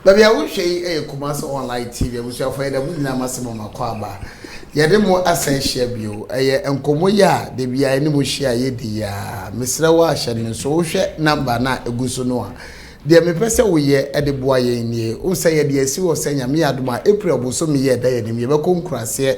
baabi a wohwɛ yi yɛ kumase online tv abusuafo yɛ dɛ mo nyinaa mase mo makɔ aba yɛde mo asan ahyia bio ɛyɛ nkɔmmɔ yi a da biara ne mo hyia yɛdi yi a mesrɛ wo ahyɛ no so wohwɛ namba no a ɛgu so no a Deɛ mepɛ sɛ woyɛ de boa yɛn nie, wohu sɛ yɛde asi hɔ sɛ Nyame yɛ adom a April bosome yi a ɛda yɛn anim yɛbɛkɔ nkuraseɛ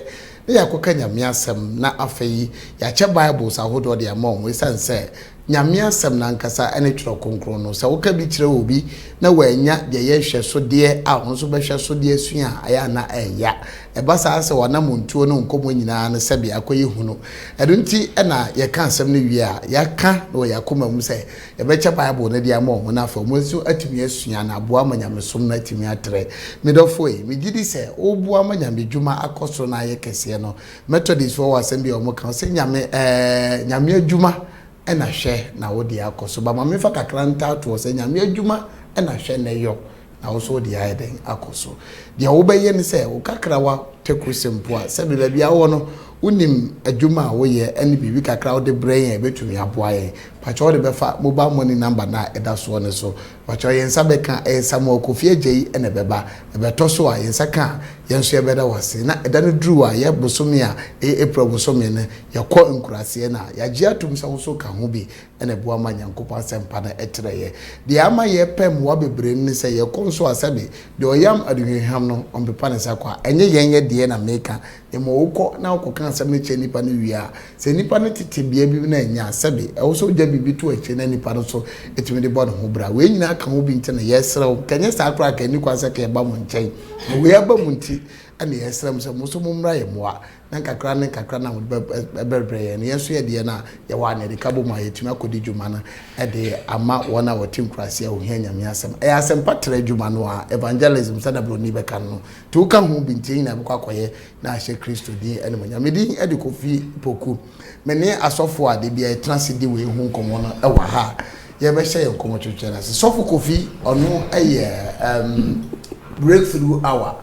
na yɛakɔka Nyame asɛm na afei yi yɛakyɛ Bibles ahodoɔ de ama wɔn ɛsiane sɛ Nyame asɛm no ankasa ne twerɛ kronkron no sɛ woka bi kyerɛ obi na wannya deɛ ɛyɛ nhwɛsodeɛ a ɔno nso bɛhwɛ so de asua a ayɛ a na ɛnya ɛba saa sɛ w'anamontuo no nkɔmmɔ nyinaa no sɛdeɛ akɔyɛ hunu ɛno nti na yɛka asɛm no wie a yɛaka na wɔ yɛn akoma mu sɛ Yɛbɛkyɛ Bible no de ama wɔn na afei wɔn nso atumi asua na aboa ma nyamesom no atumi atrɛ. Me dɔfo ei, megye di sɛ woreboa ma nyamedwuma akɔ soro na ayɛ kɛseɛ no. Methodistoɔ wɔ asɛm bi a wɔka, wɔse nyame ɛɛ nyame adwuma na hwɛ na wo deɛ akɔ so. But ma memfa kakra ntaa toɔ sɛ nyame adwuma na hwɛ na ɛyɔ. Na wo nso wode ayɛ dɛn akɔ so? Deɛ wobɛyɛ ne sɛ, wo kakrawa tɛkrose mpo a, sɛdeɛ baabi a wowɔ no, wonim adwuma a woyɛ ne biribi kakra a wode brɛ yɛn a, ɛbɛtumi aboa yɛn. Fa kyɛ wode bɛfa mobal mɔni namba no a ɛda soɔ no so. Fa kyɛ yɛn nsa bɛka, ɛyɛ Samuel Kofi Ajayi na ɛbɛba. Ɛbɛtɔ so a, yɛn nsa ka a, yɛn nso yɛbɛda wo ase. Na ɛda no duru a, yɛ bosome a ɛyɛ April bosome no, yɛkɔ nkuraseɛ no a, yɛagye atom sɛ wo nso ka ho bi. na ɛboa ma Nyankopɔn asɛmpa no trɛ yɛn. Deɛ ama yɛpɛ mmoa bebree no ne sɛ yɛkɔ nso a sɛbe deɛ ɔyam aduhwamhwam no ɔmpepa ne nsa kɔ a. Ɛnyɛ yɛn yɛ deɛ na meka, mmom wokɔ na wokɔka asɛm no kyerɛ nnipa no wie a, sɛ nnipa no te tebea bi mu na ɛnyɛ a, sɛbe ɛwɔ sɛ wogya biribi to akyire na nnipa no nso tumi de bɔ ne ho bra. Wei nyinaa ka ho bi nti na yɛsrɛ wo, nka ɛnyɛ saa koraa a, ka ɛnni kwan sɛ ka yɛba mo nkyɛn, na wei aba mu nti na yɛsrɛ mo sɛ mo nso mommra yɛn mmoa. na nkakra ne nkakra na wɔde bɛbrɛbrɛ yɛn. Yɛn nso yɛde yɛn a yɛwɔ a na yɛde ka bom a yɛatumi akɔdi dwuma no de ama wɔn a wɔte nkuraase a wɔhia Nyame asɛm. Ɛyɛ asɛmpa trɛ adwuma no ara, evangelism sɛnea Broni bɛka no no. Nti woka ho bi nti yɛn nyinaa bɛkɔ akɔyɛ na ahyɛ Kristo din animuonyam. Me din de Kofi Poku. Me ne asɔfo a da biara yɛtena ase di wei ho nkɔmmɔ no wɔ ha a yɛbɛhyɛ yɛn nkɔmmɔtwetwe no ase. Sɔfo Kofi, ɔno yɛ um, breakthrough hour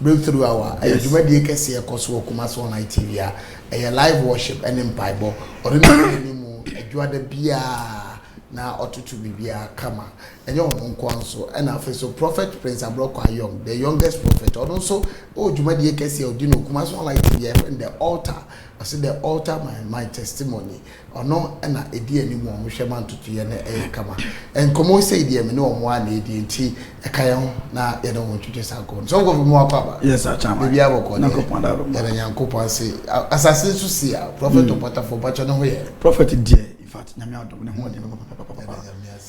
Breakthrough Hour, Ɛyɛ dwumadie kɛseɛ ɛkɔ so wɔ Kumasi Online TV a ɛyɛ live worship ne mpaebɔ. Ɔno na ɔdi anim adwuada biara na ɔtoto biribiara kama. Ɛnyɛ wɔn nko ara nso ɛna afei nso Prophet Prince Abrɔkɔ Ayong, the youngest prophet, ɔno nso ɔwɔ dwumadie kɛseɛ a ɔdi no wɔ Kumasi Online TV a yɛfrɛ no The Altar. Ɔse The Altar My, My Testimony. Ɔno na ɛdi anim wɔ wɔn hwɛma ntotoeɛ no ɛyɛ kama. Nkɔmmɔ sei deɛ me ne wɔn ara na ɛdie nti ɛka yɛn ho na yɛne wɔn ntwitwe saa nkɔmmɔ no. So wokɔfiri mu wakɔ aba? Yes, akyama. Biribi abɔkɔ deɛ. Nyankopɔn da adom. Yɛda Nyankopɔn ase. Asase nso si a, Prɔfɛt Ɔpɔtafoɔ, mpakyɛ ne ho yɛ? Prɔfɛt deɛ, in fact, Nyame adom ne ho yɛ papapapapa. Yɛda Nyame ase.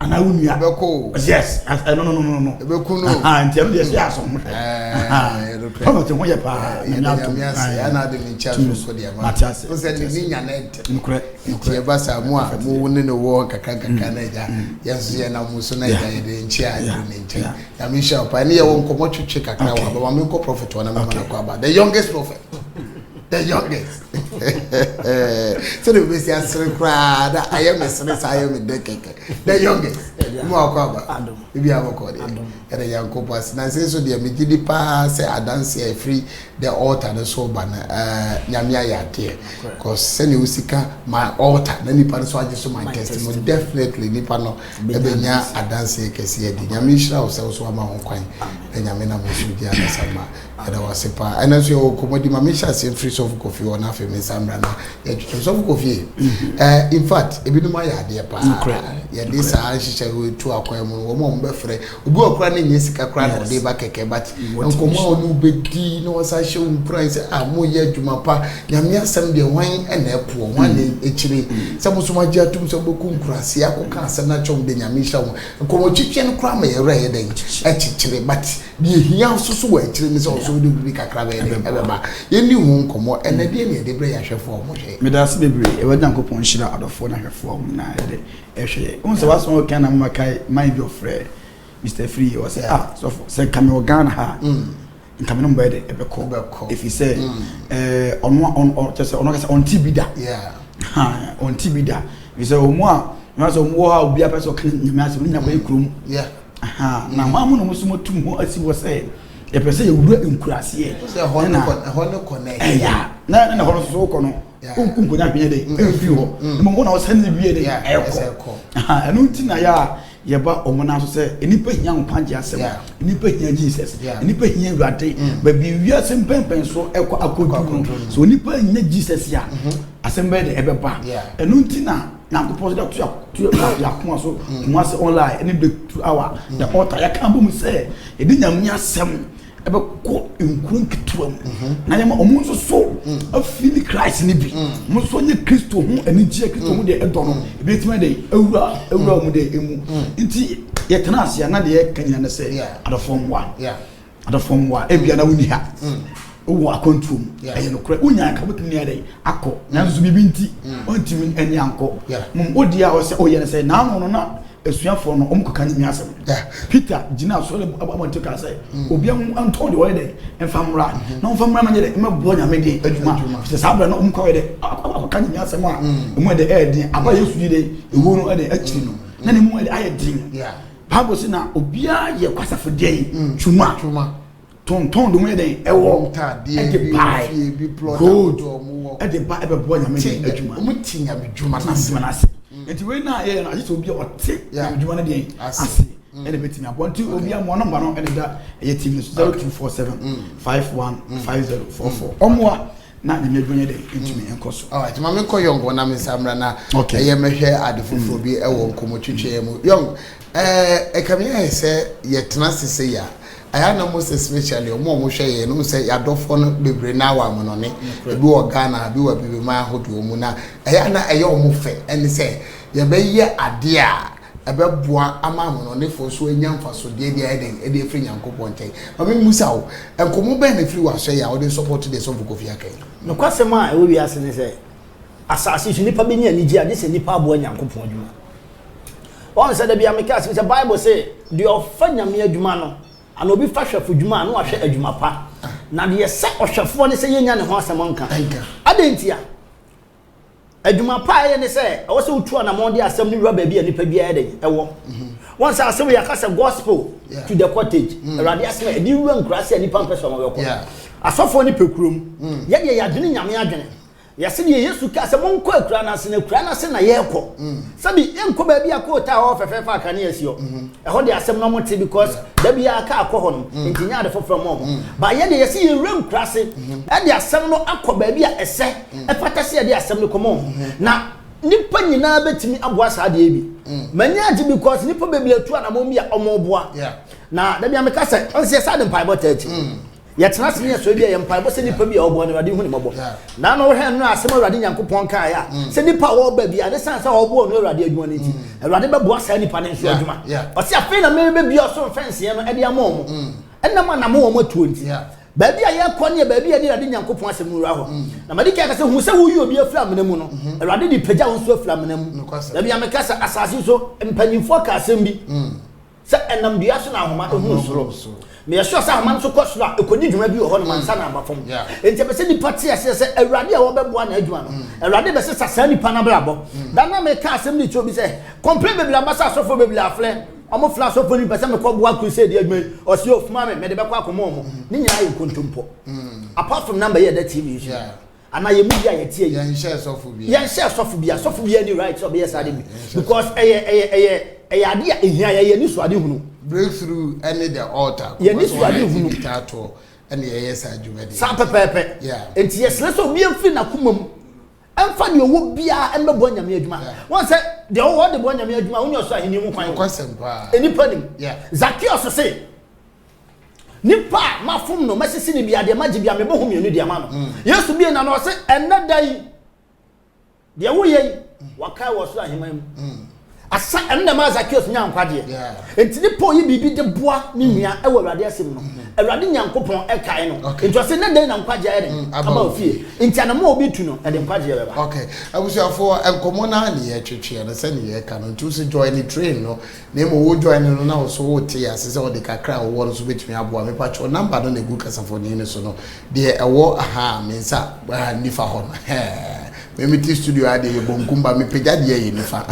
anaa wo nua ɛbɛkɔ o yes ɛno no no no no ɛbɛku no nti ɛno deɛ ɛsɛ yɛ asɔn ho hwɛ ɔno te ho yɛ paa nyame atom ɛna de ne nkyɛn so so deɛ ma mate ase wo sɛ ne ne nya ne ntɛm nokorɛ nti ɛba saa mu a mo wo ne ne wɔ nkakra nkakra na agya yɛn nso yɛ na mo so na agya yɛ de nkyɛn a yɛde ne nkyɛn nyame nhyɛ wo paa ɛne yɛwɔ nkɔmmɔ twetwe kakra wɔ abɛma menkɔ prɔfɛt hɔ na mɛma no kɔ aba the youngest prophet the youngest sɛde wobɛsi asere koraa na ayɛ me sere saa ayɛ me dɛ kɛkɛ the youngest mu akɔ aba ebi abɔkɔ deɛ ɛde nyankopɔn ase na sɛ so deɛ megye di paa sɛ adanse a ɛfiri the altar no so ba no nyame ayɛ adeɛ cause sɛdeɛ wosi ka my altar na nipa no so agye so my testimony definitely nipa no ɛbɛnya adanse kɛseɛ di nyame nhyira wo sɛ wo so ama ho kwan na nyame nam nso di adasa ma Meda wo ase paa. Ɛnɛ nso yɛwɔ nkɔmmɔdi ma menhyɛ aseɛ mfiri Sɔfo Kofi hɔ na afei me nsa mmra na yɛtwetwe. Sɔfo Kofi, eh, in fact, ebinom ayɛ adeɛ paa. Nokorɛ. Yɛde saa nhyehyɛeɛ tu akwan mu no, wɔn a wɔbɛfrɛ, obi wɔ koraa ne nyɛ sika koraa na ɔde ba kɛkɛ, but nkɔmmɔ a ɔne wo bɛdi na wɔsan hyɛ wo nkuran sɛ, ah, moyɛ adwuma pa, Nyame asɛm deɛ hwan na ɛpoɔ, hwan na ɛkyire, sɛ mo nso moagye atom sɛ mobɛkɔ nkuraase akɔka asɛm no akyerɛ wɔn deɛ Nyame nhyira wɔn. Nkɔmmɔtwetweɛ no koraa ma yɛn werɛ yɛ dɛn? Ɛkyekyere, but Deɛ ɛhia nso so wɔ akyire ne sɛ ɔsɔ wode biribi kakra bɛyɛ dɛ ɛbɛba yɛnni ho nkɔmmɔ ɛnɛ deɛ ne yɛde berɛ yɛ ahwɛfoɔ a wɔhwɛ yɛ meda ase bebree ɛwɔ nyankopɔn nhyira adɔfoɔ no ahwɛfoɔ a wɔn nyinaa ɛde ɛhwɛ yɛ wohu sɛ woasɔn wɔ Ghana mama kae man bi ɔfrɛ Mr. Firi wɔ sɛ ah sɔfo sɛ nka me wɔ Ghana ha mm. nka me no mbɛyɛ dɛ ɛbɛkɔ ɛfiri sɛ mm. eh, ɔno kyɛ sɛ ɔno kasa ɔnte bi da ɔnte bi da ɛfiri sɛ ɔmu a ɛma sɛ ɔmu wɔ hɔ a obiara pɛ sɛ ɔka nyame asɛm ne nyina kɔyɛ kurom Ahaa, na hwan mu na wɔn so wɔatu ho asi hɔ sɛ yɛpɛ sɛ yɛwura nkuraseɛ? Sɛ ɛhɔ ne kɔ ɛhɔ ne kɔ nɛ. Ɛya na na hɔ no so wokɔ no wonku nkonya hwene dɛ ɛmfiri hɔ mmom wo na wo sɛ ne wie ne ɛkɔ. Ahaa, ɛno nti na yɛ a yɛba wɔn nan so sɛ nnipa hia nkwagye asɛm, nnipa hia Jesus, nnipa hia Awurade. Baabi wiase mpɛnpɛn so ɛkɔ akɔduru no, sɛ nnipa annya Jesus a asɛm bɛyɛ dɛ ɛbɛba. Ɛno nti na nyankopɔn sɛ dɛto yɛ akoma so mu ase online ɛne breakthrough hour na ɔta yɛka bɔ mu sɛ yɛde nyame asɛm ɛbɛkɔ nkuro nketewa mu na yɛma ɔmo nso so afi ne christ ne bi ɔmo nso nye kristo ho anigyeɛ kristo ho deɛ ɛdɔ no ebi tumi de awura awura ɔmo deɛ emu nti yɛtena ase a na deɛ yɛka nyina ne sɛ adɔfoɔ mmoa Adɔfoɔ mmoa, ebia na wonni ha. Wowɔ akwantuo mu, ɛyɛ nokorɛ. Wonya nka wobɛtumi ne adɛn akɔ, nanso biribi nti wontumi ne ankɔ. Mom odi a ɔsɛ ɔyɛ no sɛ n'ano no na asuafoɔ no wɔkɔka ne nwiasɛm. Peter gyina asɔre abɔnten kaa sɛ, obiara mu ntɔn deɛ ɔyɛ dɛ mfa mmra na ɔmfa mmra mɛnyɛ dɛ mɛboa Nyame de adwuma. Sɛ saa berɛ no wɔkɔ ayɛ dɛ akɔka ne nwiasɛm a ɛmu ɛde ɛyɛ den. Aba Yesu yi de ewuo no ɛde akyiri no na ne mu ɛde ayɛ den. Bible se na obiara yɛ kwasafo deɛn twuma tontɔn de ho yɛ dɛn ɛwɔ ɛde bae gold ɛde ba ɛbɛboa nyame de adwuma ɔmo ti nyame dwuma no ase nyame ase nti wei na yɛyɛ no agye sɛ obi a ɔte nyame dwuma no deɛn ase ɛna bɛtumi aboa nti obi amoa nɔmba no ɛne da ɛyɛ tv no so 0247 51 5044 ɔmoa Na me mmabunu yɛ dɛn ntumi nkɔ so? Alright, ma me nkɔ Yong na me nsa mmra na okay. ɛyɛ mɛhwɛ ade foforɔ bi ɛwɔ mm. nkɔmɔtwitwɛɛ mu. Yong, ɛka me ayɛ sɛ yɛtena ase sɛ yɛ a, ayɛ na mo sɛ specially ɔmo a wɔhwɛ yɛn no sɛ yɛadɔfoɔ no bebree na awa amonɔne, ebi wɔ Ghana, ebi wɔ abibiman ahodoɔ mu na ɛyɛ na ɛyɛ ɔmo fɛ ɛne sɛ yɛbɛyɛ adeɛ a ɛbɛboa ama amanɔnefoɔ nso anya mfasodeɛ bi a ɛyɛ dɛn de afiri Nyankopɔn nkyɛn. Ma me mmusa wo, nkɔmmɔ bɛn na ɛfiri w'asoɛyɛ a wode nsɔpɔto deɛ Sɔfo Kofi aka yi? Nokwasɛm a ɛwɔ wiase ne sɛ, asase so nnipa bɛnya anigye a, gye sɛ nnipa aboa Nyankopɔn adwuma. Woahu sɛ da biara meka asɛm sɛ Bible se, Deɛ ɔfa Nyame adwuma no, anaa obi fa hwɛfo dwuma a, na wahwɛ adwuma pa. Na deɛ ɛsɛ ɔhwɛfoɔ ne sɛ yɛnnya ne ho asɛm nka. Adɛn ntia? Adwuma pa a ɛyɛ ne sɛ ɛwɔ sɛ wotu anamɔn de asɛm no wura baabi a nipa biara dɛn ɛwɔ. Mhm. Wɔn sɛ asɛm yɛ aka sɛ gospel to the cottage. Mm. Awurade asɛm a ɛde wura nkuraase a nipa mpɛ sɛ wɔn bɛkɔ. Asɔfoɔ ne pɛ kurom. Mm. Yɛ deɛ yɛadwene nyame adwene. Yɛsɛ deɛ Yesu kaa sɛ monkɔ akura no ase na akura no ase na yɛrekɔ. Mm. Sɛbi yɛnkɔ baabi a kootaa hɔ fɛfɛɛfɛ a kanea si hɔ. Mhm. Ɛhɔ deɛ asɛm no mote because da biara kaa kɔ hɔ nom nti nyɛ ade foforɔ ma wɔn. Ba yɛ deɛ yɛsɛ yɛwura nkuraase ɛde asɛm no akɔ baabi a ɛsɛ. ɛfata sɛ yɛde asɛm no kɔma wɔn. Na nipa nyinaa bɛtumi aboa saa adeɛ bi. M'ani agye because nipa bebree atu anamɔn bi a wɔn boa. Na dabi a meka sɛ, ɔn sɛ yɛ saa de mpaebɔ tɛɛti. Yɛtena ase ne yɛ sɔre bi a yɛ mpaebɔ sɛ nipa bi a ɔboa no awurade hu ne mɔbɔ. Na ano hwɛ nnura asɛm awurade Nyankopɔn kaeɛ a sɛ nipa a ɔba bi a ne sane sɛ ɔboa ɔno awurade adwuma no nti awurade bɛboa saa nipa no nso adwuma. Ɔse afei na merebɛbia ɔsoro mfɛnseɛ no ɛde ama wɔn ɛnam anamɔn wɔn atuo nti. Baabi a yɛrekɔ ne baabi a yɛne Awurade Nyankopɔn asɛm no wura hɔ. Na madi kan aka sɛ, Hu sɛ woyi obi afiri amena mu no, Awurade de pagya wo nso afiri amena mu. Da bi a meka sɛ asase so mpanimfoɔ ka asɛm bi sɛ ɛnam dua so na ahoma hunu soro. Meyɛ sure sɛ ahoma no nso kɔ soro a, ɛkɔdi dwuma bi wɔ hɔnom ansa na aba fam. Enti ɛpɛ sɛ nnipa te aseɛ sɛ Awurade a wɔbɛboa n'adwuma no, Awurade bɛsesa saa nipa no abrabɔ. Da no a meka asɛm de kyerɛ obi sɛ, Complaint bebree aba sɛ asɔfoɔ bebree afrɛ. Ɔmo frɛ asɔfo no bi pɛ sɛ mekɔ boa crusade adwuma yi, ɔse oh soma me, mede bɛkɔ akɔma ɔmo. Ne nyinaa yɛ nkontompo. Apostle number yi a ɛda TV yi so yi, anaa yɛn mu bi a yɛte ayi, Yɛnhyɛɛ sɔfo biara. yɛnhyɛɛ sɔfo biara, sɔfo biara nni right sɛ ɔbɛyɛ saa ade bi, because ɛyɛ, ɛyɛ, ɛyɛ, ɛyɛ ade a ehia yɛn, yɛn anisoadehunu. Breakthrough ɛne the altar, Yɛn kɔfa sɛ wɔayɛ anisoadehunu. TV taatoɔ ɛna yɛyɛ saa dwumadie Saa no. pɛpɛɛpɛ. Yeah. Enti yɛsrɛ sɛ obiara mfiri n'akoma mu. Ɛmfa deɛ ɔwɔ biara mmɛboa Nyame adwuma. Wɔn sɛ deɛ ɔwɔ de boa Nyame adwuma wonya ɔsoro ahenni mu kwan. Nokwasɛm paa. Nnipa nim. Zakeus se, Nipa a mafom no, mɛsese ne bia, deɛ magye bia, mebɔ ho mmienu de ama no. Mm. Yesu bie n'ano ɔse, ɛnnɛ da yi, deɛ woyɛ yi, mm. wakae wɔ ɔsoro aheman mu. Mm. Asa ɛno na ɛmaa Zakeus nyaa nkwagyeɛ. Yeah. Nti ne Paul yi biribi de boa ne mm. nua ɛwɔ Awurade asɛm no. Mm-hmm. Awurade Nyankopɔn ɛkae no. Okay. Nti ɔsɛ ne dɛn na nkwagyeɛ ayɛ dɛn? Mm, aba ofie. Nti anamɔ a obi tu no ɛde mm. nkwagyeɛ bɛba. Okay. Abusuafoɔ nkɔmɔ naa ne yɛ twetweɛ no sɛ ne yɛ ka no nti wosi join ne train no na emu wo join no na woso wo te ase sɛ ɔde kakra a wɔwɔ no so betumi aboa me patwɔ namba no na egu kasafoni no so no deɛ ɛwɔ aha me nsa nifa hɔ no hɛɛ. Me me te studio ha deɛ yɛ bonkum ba me pagya deɛ yɛ nifa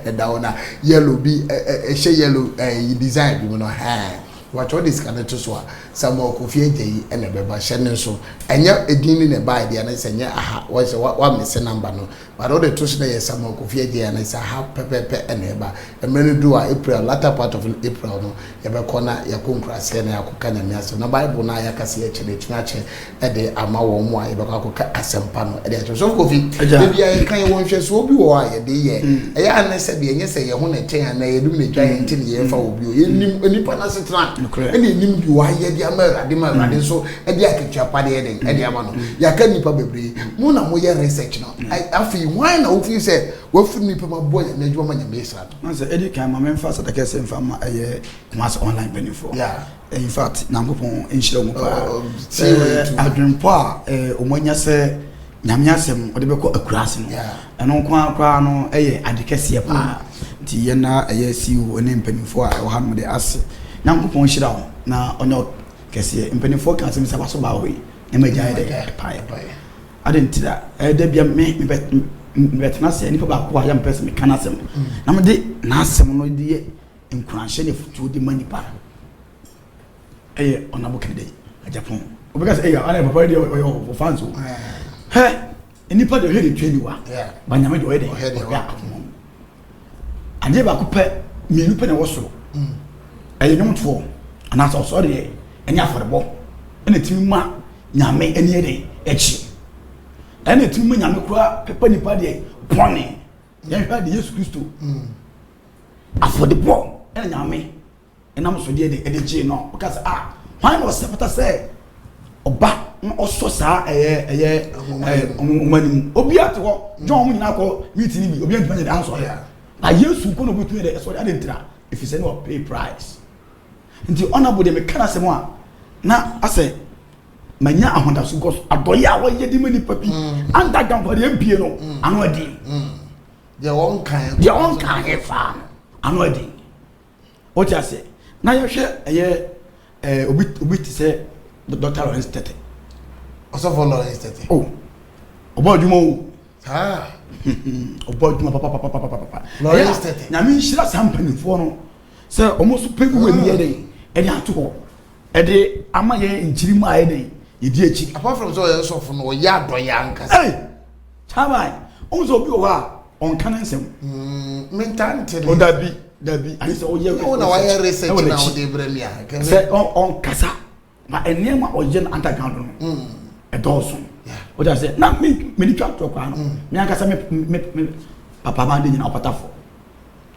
ɛda hɔ na yellow bi ɛhyɛ yellow ɛyi design bi mu no hɛn wɔatwa ɔde sika no to so a samuel kofi agya yi ɛna ɛbɛba hyɛ ne nso ɛnyɛ edin ne na ɛba ɛdeɛ ne sɛ nyɛ aha wɔhyɛ wa wa mese namba no but ɔde to so na yɛ samuel kofi agya yi ɛna sɛ aha pɛpɛpɛ ɛna ɛba mmerɛ no duru a april latter part of april no yɛbɛkɔ na yɛakɔ nkuraseɛ na yɛakɔka Nyame asɛm na Bible no a yɛaka sɛ yɛkyɛ no atumi akyɛ de ama wɔn mu a yɛbɛkɔ akɔka asɛmpa no de akyɛ so kofi ebi a yɛka yɛwɔ nhwɛsoɔ bi wɔ hɔ a yɛde yɛ hmm. ɛyɛ a ne sɛ deɛ ɛnyɛ sɛ yɛn ho na ɛkyɛn anaa yɛdum na ɛtwa yɛn nti ne yɛmfa wɔ bio yɛnim hmm. nipa no asetena ɛne ɛnim de wɔayɛ de ama awurade ma awurade nso hmm. de akatua pa deɛ den ɛde ama no yɛaka nipa bebree mo na moyɛ research no afei hwan na wofii sɛ wafiri nipa ma bɔ nyame adwuma ma nyame sra Nanso edi kan ma memfa aseda kɛse mfa mma ɛyɛ Kumasi Online mpanyimfoɔ. Yeah. In fact, Nyankopɔn nhyira wɔn paa. Oh, oh, Sɛ see way too. adwenpɔ a eh, wɔn anya sɛ Nyame asɛm wɔde bɛkɔ akuraase no, Yeah. ɛno nko ara koraa no ɛyɛ ade kɛseɛ paa. Nti yɛn na ɛyɛ CEO ne mpanyimfoɔ a ɛwɔ ha nom de ase. Nyankopɔn nhyira wɔn na ɔnyɛ ɔt- kɛseɛ. Mpanyimfoɔ ka asɛm sɛ waso baa hɔ yi, na magyae dɛ. Ɛpae. Adɛn nti na ɛyɛ da bia me mebɛtena sɛ nipa baako a yɛ mpɛ sɛ meka n'asɛm na mede n'asɛm no de yɛ nkuranhyɛ ne afotuo de ma nipa ɛyɛ ɔnabo kɛdɛ agyapɔn wobɛka sɛ ɛyɛ ana papa deɛ ɔyɛ ɔfa nso hɛ nipa deɛ ɔhwɛ ne twɛ niwa ba nyame deɛ ɔyɛ deɛ ɔhwɛ akoma mu adeɛ baako pɛ mmienu pɛ na ɛwɔ soro mm. ɛyɛ nwomtoɔ anaasɛ ɔsɔre deɛ ɛne afɔrebɔ ɛna ɛtumi ma nyame ani ɛde ɛkyi ɛna ɛtumi ma nyame kura pɛpɛ nipa deɛ pɔne yɛnhwɛ de yesu kristo mm. afɔrebɔ ɛna nyame nam so de de gyee no. Ɔka sɛ, ah, hwan na ɔsɛ fata sɛ ɔba na ɔsɔ saa ɛyɛ ɛyɛ nwoma no mu? Obiara te hɔ, John mu nyinaa kɔ meeting no bi, obiara ntumi nyɛ ansɔ yɛ. Na Yesu nko na obetumi de ɛsɔ ade ntira, efisɛ na ɔpay price. Nti ɔna bo de meka n'asɛm a na asɛ manya ahodaso gɔ so adɔyɛ a wɔyɛ de ma nipa bi mm. anda gankɔre mpie no mm. ano adi. Mm. Deɛ wɔn kan deɛ wɔn kan yɛ faa ano adi. Wote aseɛ? Na yɛhwɛ ɛyɛ ɛɛ obi obi te sɛ Dr. Lawrence Tete. Ɔsɔfo Lawrence Tete. O, ɔbɔ adwuma o. Saa. Ɔbɔ adwuma papapapapapa. Lawrence Tete. Nyame nhyira saa mpanimfoɔ no sɛ wɔn nso pɛ bi wɔ ɛni yɛ dɛ ɛde ato hɔ ɛde ama yɛn nkyiri mu ayɛ dɛ yɛdi akyi. Apart from sɛ ɔyɛ sɔfo no ɔyɛ adɔyɛ ankasa. Ee, kyabae, wɔn sɛ obi wɔ hɔ a ɔnka ne nsɛm. Mm, mentaa nte ne. Ɔdabi dabi ayɛ sɛ ɔyɛ research. na wayɛ research na ɔde brɛ mi a. sɛ ɔnkasa na nneɛma ɔyɛ no underground no mm. ɛdɔɔso o da sɛ na mi mi ni twa tɔ kwan no mm. mi ankasa mi mi mi papa maa de nyina ɔpata fɔ.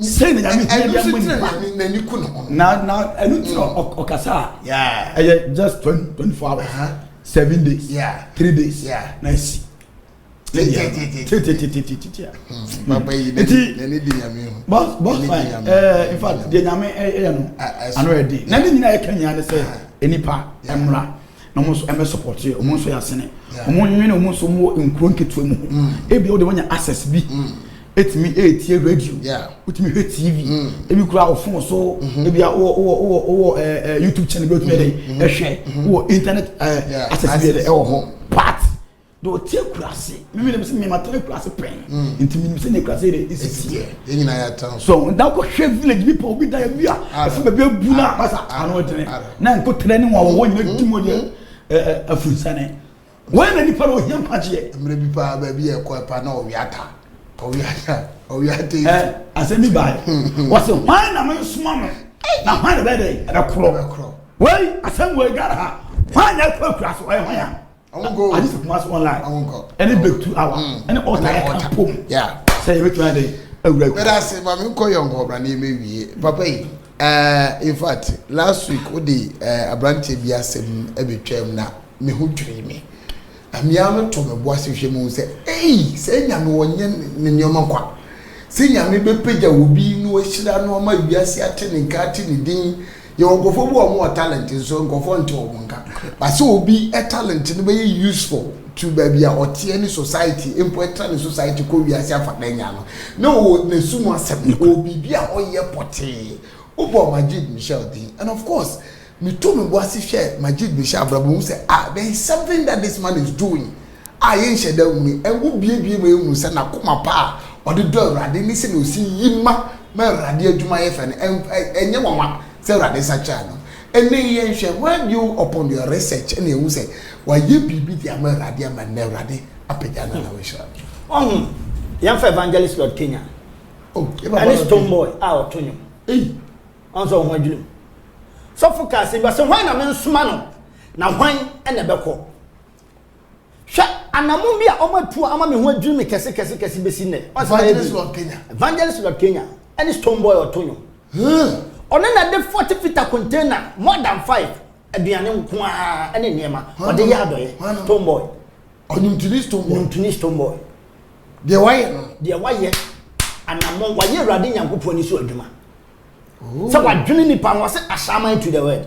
sɛ na nyame hia bia mɔ nipa n'ani ku ne ho na na ɛno ti na ɔkasa a ɛyɛ just 24 hours uh-huh. seven days three days na ɛsi tititatitatia nti bɔsfae infact deɛ nyame ɛyɛ no ano ɛden na ne nyina ɛka nyina ne sɛ nnipa mmra na wɔn nso ɛmɛ support yɛ wɔn nso yɛ asene wɔn nwene wɔn nso wɔn nkuro nketewa mu mm. ebi wɔde wɔnya access bi mm. etumi etie radio wotumi hwɛ tv mm. ebi kura wɔ phone so mm-hmm. ebi wɔ wɔ wɔ wɔ ɛɛ eh, eh, youtube channel bi wotumi ɛdɛ mm-hmm. ɛhwɛ mm-hmm. wɔ internet ɛɛ eh, access bi ɛdɛ ɛwɔ hɔ part Deɛ ɔte akurase mimi nim sɛ mima tena akurase pɛn nti mimi nim sɛ ne akurase yɛ esisi yɛ. yɛn nyinaa yɛ atena so. so nda kɔ hwɛ village bi pɛ obi da yɛ bi a ɛfɛ baabi abu na akasa ano ɛdene na nkotire ne wɔn a wɔwɔ nyina di mu deɛ ɛɛ afunsane wɔn na nipa na ohia mpagyeɛ. mmerɛ bi paa baabi yɛ kɔ ɛpa na ɔwia ata ɔwia ata ɔwia ata yi. ɛ asɛm bi baa yi wɔsi hwan na mi nsoma no na hwan na bɛ dɛ ɛbɛ korɔ wei asɛm wei gara ha hwan na ɛkɔ akura so ɔyɛ hwan ya. ade sɛ kumase online ɛne breakthru awa ɛne ɔta yɛ ka pom sɛ yɛbɛtumi adɛ awura ku bɛda se ma menkɔ yɛ nkɔbra ne yɛmɛwie papa yi uh, in fact last week wode uh, eh, aberanteɛ bi asɛm ɛbɛtwam na me ho dwiri me na mmea no to me bo ase hwɛ mu sɛ ei sɛ nyame wɔnyɛ ne nneɛma kwa sɛ nyame bɛpagya wɔ bi na wahyira no ama wiase ate ne nka ate ne din Yɛwɔ nkurɔfoɔ bi wɔ wɔn wɔ talent nso nkurɔfoɔ nte wɔn nka ba sɛ obi talent no bɛyɛ useful to baabi a ɔteɛ ne society mpo ɛtra ne society kɔ wiase afa da nya no na ɔwɔ n'asu mu asɛm ɔwɔ biribi a ɔyɛ pɔtee wobɔ Majid Michel din and of course meto me bo ase hwɛ Majid Michel abrabɔ mu sɛ ah there is something that this man is doing a yɛnhyɛ da nhu yi, ngo buebue ma yɛhu sɛ n'akoma pa a ɔde dɔ Awurade ne sɛnea ɔsi yi ma ma Awurade adwuma yɛ fɛ no, ɛnyɛ nwanwa sɛ Awurade nsa kyerɛɛ no. Ɛnnɛ yi, yɛnhwɛ, Why do you upon your research na yɛhu sɛ wayɛ biribi de ama Awurade ama nnɛ Awurade apagya no na wahyira no. Wahu? Yɛmfa Evangelist Lord Kenya oh, ɛne Stone Boy a ɔto nnwom. Ɔn sɛ ɔho adwene mu. Sɔfo kaa sɛ bi ɔsɛ hwan na mensoma no na hwan na ɛbɛkɔ. hwɛ anamon bi a wɔn atu ama mi ho adwiri mi kɛse kɛse kɛse besi nnɛ. evangelist lord kenya. evangelist lord kenya ɛne stone boy ɔto nwom. ɔno na de forty fita container more than five aduane nko ara ɛne nneɛma ɔde yɛ adɔyɛ stone boy. ɔnimtini stone boy. ɔnimtini stone boy. deɛ wayɛ no. deɛ wayɛ anamon wayɛ awurade nyankopɔn ni so adwuma. sɛ wadwene nipa ho ɔsɛ asaman to the world.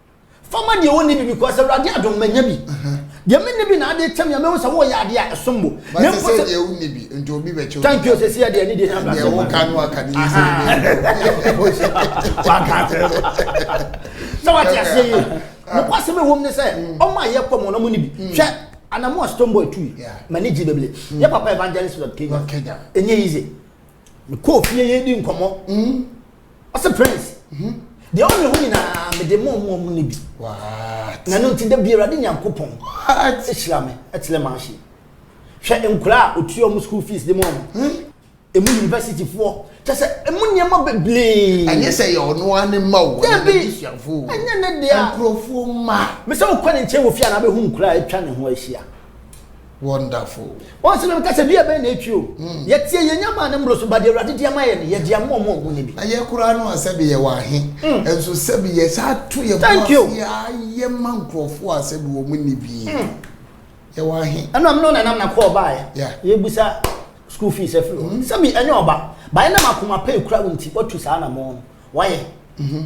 Fa ma deɛ ɔnni bi because Awurade adom manya bi. Deɛ menni bi na ade kyɛ me a mehu sɛ woyɛ adeɛ a ɛsom bo. But sɛ sɛ deɛ wonni bi nti obi bɛkyɛ obi. Thank you sɛ sɛ deɛ ne deɛ nyɛ abrasɛ. Deɛ woka no aka ne yɛ sɛ obi nso. Waka akyerɛ no. Sɛ wate aseɛ yi. Nokwasɛm a ɛwom ne sɛ ɔmo a yɛkɔ mu no ɔmo ne bi. Hwɛ anamu a Stone Boy tui. M'ani gye bebree. Yɛ papa Evangelist Lord Kenya. Ɛnyɛ easy. Mekɔɔ fie yɛdi nkɔmmɔ. ɔse prince mhm. deɛ ɔne ho nyinaa mede ma ɔmo ɔmo ne bi na no nti da bi awurade nyankopɔn ɛhyira me ɛkyerɛ ma ahye hwɛ nkura a ɔtua ɔmo school fees de ma ɔmo hmm? emu university foɔ kyɛ sɛ emu nneɛma bebree ɛnyɛ sɛ yɛ ɔno ara ne mma o ɛnyɛ ne busuafo o ɛnyɛ ne deɛ nkurɔfoɔ mma mesɛ wokɔ ne nkyɛn wɔ fie a na abɛhu nkura a atwa ne ho ahyia Wonderful. Wɔn sɛ mɛka sɛ dua bɛn na etwi o. Mm. Yɛteɛ yɛn nya maa ne mmoro so ba deɛ awurade de ama yɛ no yɛde ama ɔmo ɔmo ne bi. Na yɛ koraa no a sɛbi yɛ wɔ ahe. Mm. Nso sɛbi yɛ saa to yɛ mu ase a yɛ ma nkorɔfo a sɛbi wɔn mo ne bi. Mm. Yɛ wɔ ahe. Ɛno a mene ɔnanam na kɔɔ baa yɛ. Yeah. Yɛ busa school fees ɛfiri hɔ. Mm. Sɛbi ɛnyɛ ɔba. Baayɛ nam akoma pɛ ekura wo nti watu saa na mɔɔ no. Wayɛ. Mm -hmm.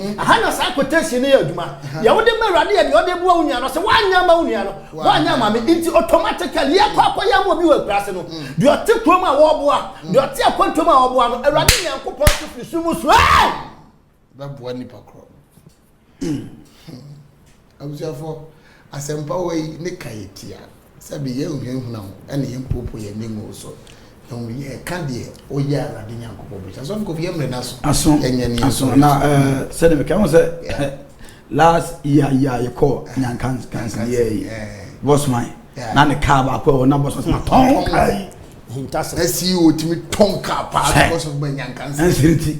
Ɛha na saa quotation no yɛ adwuma. Deɛ wode ma Awurade yɛ deɛ ɔde boa wo nua no. Ɔse woanyɛ ama wo nua no, woanyɛ ama me. Nti automatically yɛkɔ akɔyɛ ama obi wɔ akuraase no, deɛ ɔte kurom a wɔboa, deɛ ɔte akwantuom a wɔboa no, Awurade Nyankopɔn nso firi soro mu suae. Bɛboa nipa korɔ. Abusuafo, asɛmpawa yi ne ka yɛ tia. Sɛbe yɛnhunahuna ho na yɛmpoopoo yɛn nnwennwo so, na mmom yɛka deɛ ɔyɛ Awurade Nyankopɔn bɔhyɛ. Asɔfo nkɔmfo, yɛmmrɛ no aso, Aso, yɛnyɛ ne aso, na ɛɛ sɛdeɛ meka ho sɛ last year yi a yɛkɔɔ Nyankansi yɛ yi, Bosman, na ne kaa baako ɛwɔ na Bosman sɛ matɔn kaa yi. Hintasɛm. Na CEO tumi tɔn kaa paa na Bosman ba Nyankansi. Ɛnsiri ti.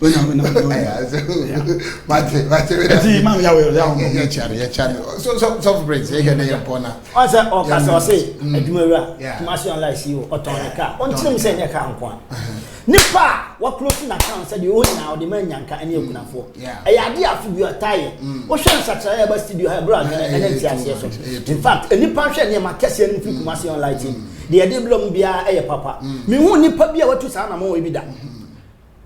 wena wena mate mate wena ti mam ya wɛ ya wɔn yɛ kyari yɛ kyari so so so prince yɛ kɛ ne yɛ mpɔ na. ɔn sɛ ɔka sɛ ɔse adwumawura kumasi online si o ɔtɔn ne kaa ɔnkyerɛ mu sɛ ɛnyɛ kaa nko a nipa a wakorosi na kan sɛ deɛ ɔwɔ nyinaa ɔde ma nyanka ɛne akunafoɔ ɛyɛ adeɛ afi bi ɔta yɛ wohwɛ nsakyerɛ yɛ ba studio ha ɛbrɛ adwene ɛne nti aseɛ so in fact nipa hwɛ nneɛma kɛseɛ no mfiri kumasi online ti deɛ ɛde blɔ mu biara ɛyɛ papa mehu nipa bi a watu saa na mo ebi da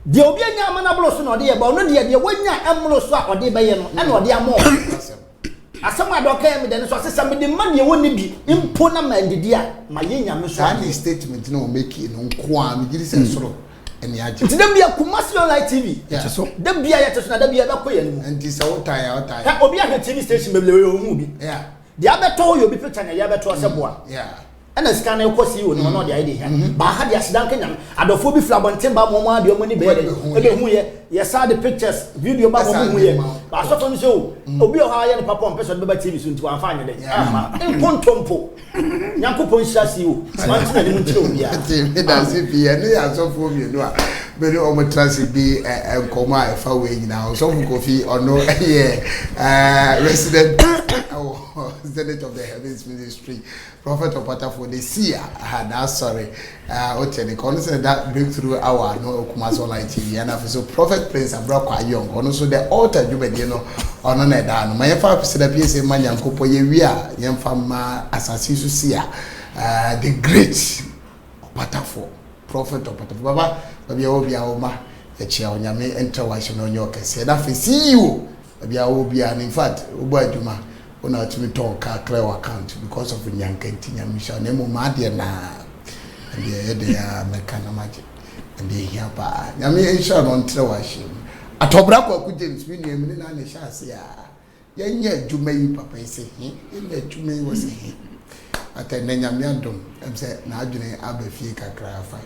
Deɛ obi anya ama no aboro so na ɔde yɛ, ba ɔno deɛ deɛ wanya mmoro so a ɔde bɛyɛ no ɛna ɔde ama ɔno. Asɛm a dɔkɛɛ me dɛ no so ɔse sɛ mede ma deɛ wɔnni bi mpo na mandidi a mayɛ Nyame so adeɛ. Saa ne statement na ɔmɛkie no nkoaa me gyidi sɛ soro ɛne agye. Nti da bia Kumasi online TV ɛte so da bia yɛte so na da bia ɛbɛkɔ yɛn mu. Nti sɛ wotae a wotae. Hwɛ obi ahwɛ TV station bebree ɔhuu bi. Yeah. Deɛ abɛtɔ hɔ yɛ obi picture na ɛyɛ abɛtɔ hɔ sɛ boa. Ɛna sika no kɔ CEO no hɔ na ɔde ayɛ deɛ hia. Mm-hmm. Baa ha deɛ aseda nka nyame. Adɔfoɔ bi firi abɔnten ba ma wɔn adeɛ wɔn ani bɛyɛ dɛ. Ɛbɛhu yɛ. Yɛsa de pictures video ba ma wɔn hu yɛ. Asɔfo no sɛ o mm. obi wɔ hɔ ayɛ no papa ɔmpɛ sɛ ɔde bɛba TV so nti wɔamfa anyɛ dɛ. Ama nkontompo. Nyankopɔn nhyira CEO. Wɔn ti na ne mu nkyerɛ obiara. Ɛte mi da se pii ɛne asɔfoɔ mmienu a. Me ne wɔn tra ase dii nkɔmmɔ a ɛfa wei nyinaa ho. Ɔsɔfo Kofi, ɔno yɛ resident pastor wɔ Zenith of the Heavens Ministry, Prophet Ɔpatafoɔ ne Sia n'asɔre. Wote ne ka, ɔno sɛ da Breakthrough Hour no Kumasi Online TV, ɛna afei so Prophet Prince Abrako Ayong, ɔno nso The Altar dwumadie no, ɔno na ɛda ano. Ma yɛmfa Akwesida PSA mma Nyankopɔn, yɛwie a yɛmfa mma asase so Sia the Great. Ɔpatafoɔ, Prɔfɛt Ɔpatafoɔ, baba, baabi a ɔwɔ biara wo mma yɛkyea wo, Nyame ntra w'ahyem na ɔnyɛ ɔkɛseɛ, na afei CEO, baabi a wowɔ biara no, in fact wobɔ adwuma, wo na wotumi tɔn car clear w'account because of Nyanka nti, Nyame nhyira wo, na mmom m'adeɛ no ara, ɛndeɛ ɛyɛ dɛn ara mɛka na magye, ɛndeɛ ɛhia paa, Nyame nhyira wo na ɔntra w'ahyem, Atɔbra Kwaku James, me nua, me ne no ara na ɛhyɛɛ aseɛ a. Yɛ nyɛ adwuma yi papa yi sɛ he? Yɛ nyɛ adwuma yi wɔ sɛ he? But ɛnɛ Nyame adom ɛm sɛ n'adwene aba fie kakra afa.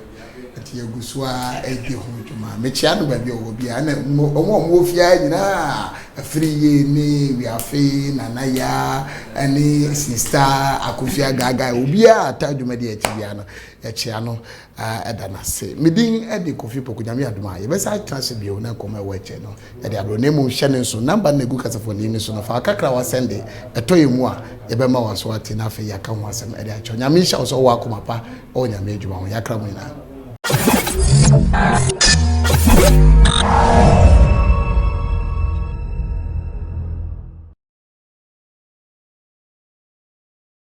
Nti yɛ gu so ara ɛdi ho dwuma. Me kyea no baabi ɔwɔ bia ɛna ɔmo a ɔmo wɔ fie ara nyinaa afiri yie ne wiafe nana yaa ɛne sista akosua gaagaa obiara ata adwuma di akyi bia no yɛ kyea no ara da no ase. Me din de Kofi Opoku. Nyame adom a, yɛbɛsan atena ase bio na nkɔmmɔ a ɛwɔ akyire no de abrɛ wo. Na mmom hyɛ no nso, namba no na ɛgu kasafoni no so no, fa wo kakra a woasɛnde tɔ yɛn mu a, yɛbɛma wo aso ate na afei yɛaka ho asɛm de akyerɛ wo. Nyame nhyira wo sɛ wowɔ akoma pa wɔ Nyame adwuma ho. Yɛakra mo nyinaa.